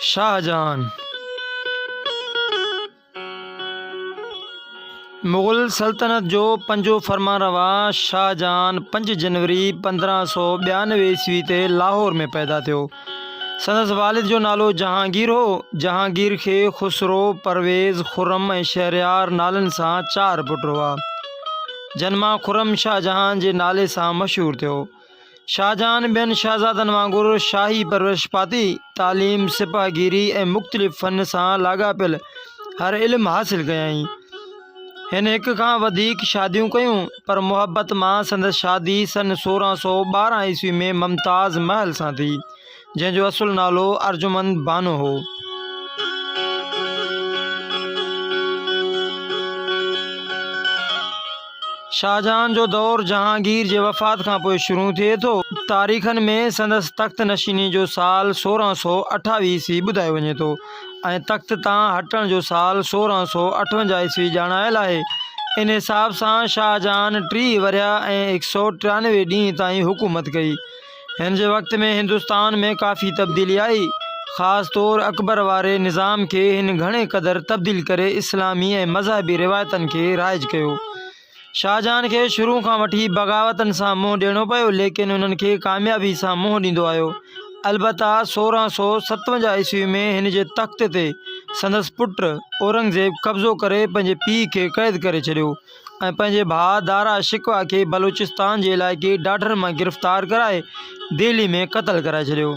شاهجهان مغل سلطنت جو پنجون فرمانروا شاهجهان پنج جنوري پندرهن سو ٻيانوي عيسوي تي لاهور ۾ پيدا ٿيو سندس والد جو نالو جهانگير هو. جهانگير کي خسرو، پرويز، خرم ۽ شهريار نالن سان چار پٽ هئا، جن مان خرم شاهجهان جي نالي سان مشهور ٿيو. شاهجهان ٻين شهزادن وانگر شاهي پرورش پاتي، تعليم، سپهه گيري ۽ مختلف فن سان لاڳاپيل هر علم حاصل ڪيائين. هن هڪ کان وڌيڪ شاديون ڪيون، پر محبت مان سندس شادي سن سورهن سؤ ٻارهن عيسوي ۾ ممتاز محل سان ٿي، جنهن جو اصل نالو ارجمند بانو هو. شاهجهان جو دور جهانگير جي وفات کان پوء شروع ٿئي ٿو. تاريخن ۾ سندس تخت نشيني جو سال سورهن سؤ اٺاويهه عيسوي ٻڌايو وڃي ٿو. ۽ تخت تان هٽڻ جو سال سورهن سؤ اٺونجاهه عيسوي ڄاڻايل آهي. ان حساب سان شاهجهان ٽيهه ورهيه ۽ هڪ سؤ ٽيانوي ڏينهن تائين حڪومت ڪئي. هن جي وقت ۾ هندستان ۾ ڪافي تبديلي آئي. خاص طور اڪبر واري نظام کي هن گهڻي قدر تبديل ڪري اسلامي ۽ مذهبي روايتن کي رائج ڪيو. شاهجهان کي شروع کان وٺي بغاوتن سان منهن ڏيڻو پيو ليڪن انهن کي ڪاميابي سان منهن ڏيندو آيو. البته سورهن سؤ ستونجاهه عيسوي ۾ هن جي تخت تي سندس پٽ اورنگزيب قبضو ڪري پنهنجي پيء کي قيد ڪري ڇڏيو ۽ پنهنجي ڀاء دارا شڪوه کي بلوچستان جي علائقي ڊاڍر مان گرفتار ڪرائي دهلي ۾ قتل ڪرائي ڇڏيو.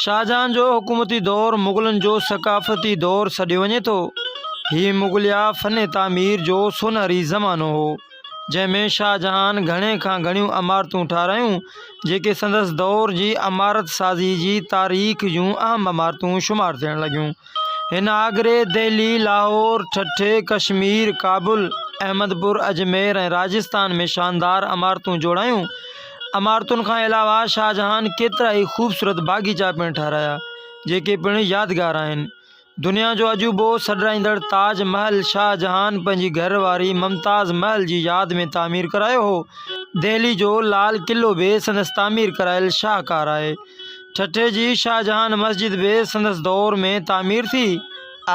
شاهجهان جو حڪومتي دور مغلن جو ثقافتي دور سڏيو وڃي ٿو. هي مغليه فن تعمير جو سونهري زمانو هو، جنهن ۾ شاهجهان گهڻي کان گهڻيون عمارتون ٺاهرايون، جيڪي سندس دور جي عمارت سازي جي تاريخ جون اهم عمارتون شمار ٿيڻ لڳيون. هن آگري، دهلي، لاهور، ٺٽي، ڪشمير، ڪابل، احمد پور، اجمير ۽ راجستان ۾ شاندار عمارتون جوڙايون. عمارتن کان علاوه شاهجهان ڪيترائي خوبصورت باغيچا پڻ ٺهرايا، جيڪي پڻ يادگار آهن. دنيا جو عجوبو سڏرائيندڙ تاج محل شاهجهان پنهنجي گهر واري ممتاز محل جي ياد ۾ تعمير ڪرايو هو. دهلي جو لال قلعو به سندس تعمير ڪرايل شاهڪار آهي. ٺٽي جي شاهجهان مسجد به سندس دور ۾ تعمير ٿي.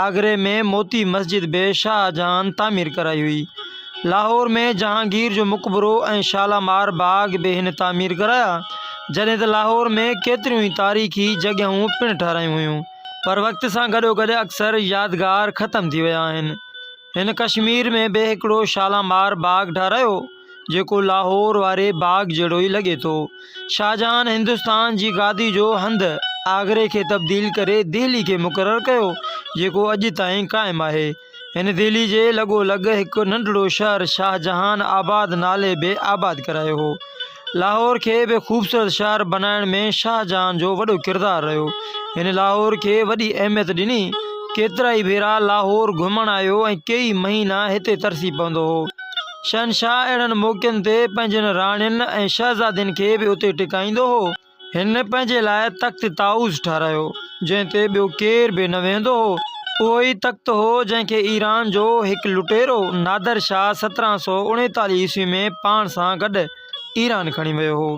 آگري ۾ موتي مسجد به شاهه جهان تعمير ڪرائي هئي. لاهور ۾ جهانگير جو مقبرو ۽ شالامار باغ به هن تعمير ڪرايا، جڏهن ته لاهور ۾ ڪيتريون ئي تاريخي جڳهيون پڻ ٺهرايون هيون. پر وقت سان گڏوگڏ اڪثر يادگار ختم ٿي ويا آهن. هن ڪشمير ۾ به هڪڙو شالامار باغ ٺهرايو. جيڪو لاهور واري باغ جهڙو ئي لڳي ٿو. شاهجهان هندستان جي گادي جو هنڌ آگري کي تبديل ڪري دهلي کي مقرر ڪيو، جيڪو اڄ تائين قائم آهي. هن دهلي جي لڳو لڳ هڪ ننڍڙو شهر شاهجهان آباد نالي به آباد ڪرايو هو. لاهور کي به خوبصورت شهر بنائڻ ۾ شاهجهان جو وڏو ڪردار رهيو. هن لاهور کي وڏي اهميت ڏني. ڪيترائي ڀيرا لاهور گهمڻ آيو ۽ ڪيئي مهينا هتي ترسي پوندو هو. شهنشاهه اهڙن موقعن تي پنهنجين راڻين ۽ شهزادين کي به اتي ٽڪائيندو هو. هن پنهنجي لاء تخت طاؤس ٺهرايو، جنهن تي ٻيو ڪير به نه ويهندو هو. اهو ئي تخت هو، جنهن کي ايران جو هڪ لٽيرو نادر شاهه سترهن سؤ اڻيتاليهه عيسوي ۾ پاڻ سان گڏ ايران کڻي ويو هو.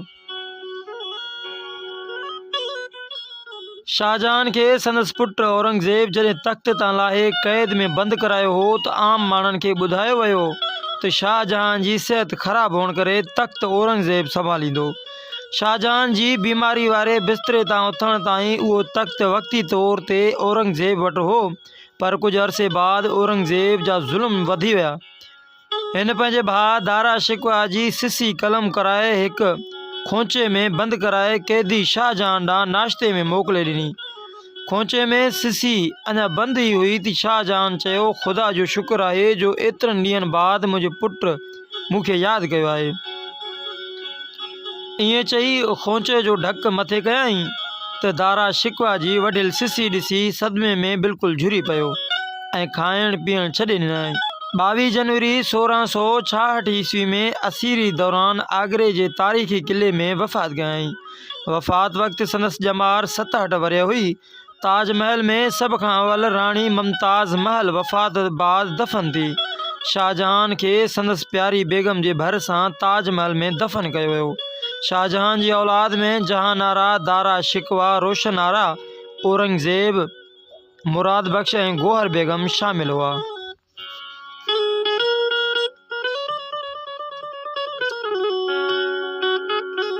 شاهجهان کي سندس پٽ اورنگزيب جڏهن تخت تان لاهي قيد ۾ بند ڪرايو هو ته عام ماڻهن کي ٻڌايو ويو ته شاهجهان جي صحت خراب هئڻ ڪري تخت اورنگزيب سنڀاليندو. شاهجهان جي بيماري واري بستري تان اٿڻ تائين اهو تخت وقتي طور تي اورنگزيب وٽ هو پر ڪجهه عرصي بعد اورنگزيب جا ظلم وڌي ويا. هن پنهنجي ڀاء دارا شڪوه جي سسي قلم ڪرائي هڪ خونچي ۾ بند ڪرائي قيدي شاهه جهان ڏانهن ناشتي ۾ موڪلي ڏني. خونچي ۾ سسي اڃا بند ئي هئي ته شاهه جهان چيو خدا جو شڪر آهي جو ايترن ڏينهن بعد منهنجو پٽ مون کي ياد ڪيو آهي. ائين چئي خونچي جو ڍڪ مٿي ڪيائين ته دارا شڪوه جي وڍيل سسي ڏسي صدمي ۾ بلڪل جهري پيو. ۽ کائڻ پيئڻ ڇڏي ڏنائين. ٻاويهه جنوري سورهن سؤ ڇاهٺ عيسوي ۾ اسيري دوران آگري جي تاريخي قلعي ۾ وفات ڪيائين. وفات وقت سندس ڄمار ستهٺ ورهيه هئي. تاج محل ۾ سڀ کان اول راڻي ممتاز محل وفات بعد دفن ٿي. شاهجهان کي سندس پياري بيگم جي ڀر سان تاج محل ۾ دفن ڪيو ويو. شاهجهان جي اولاد ۾ جهان آرا، دارا شڪوه، روشن آرا، اورنگزيب، مراد بخش ۽ گوهر بيگم شامل هئا.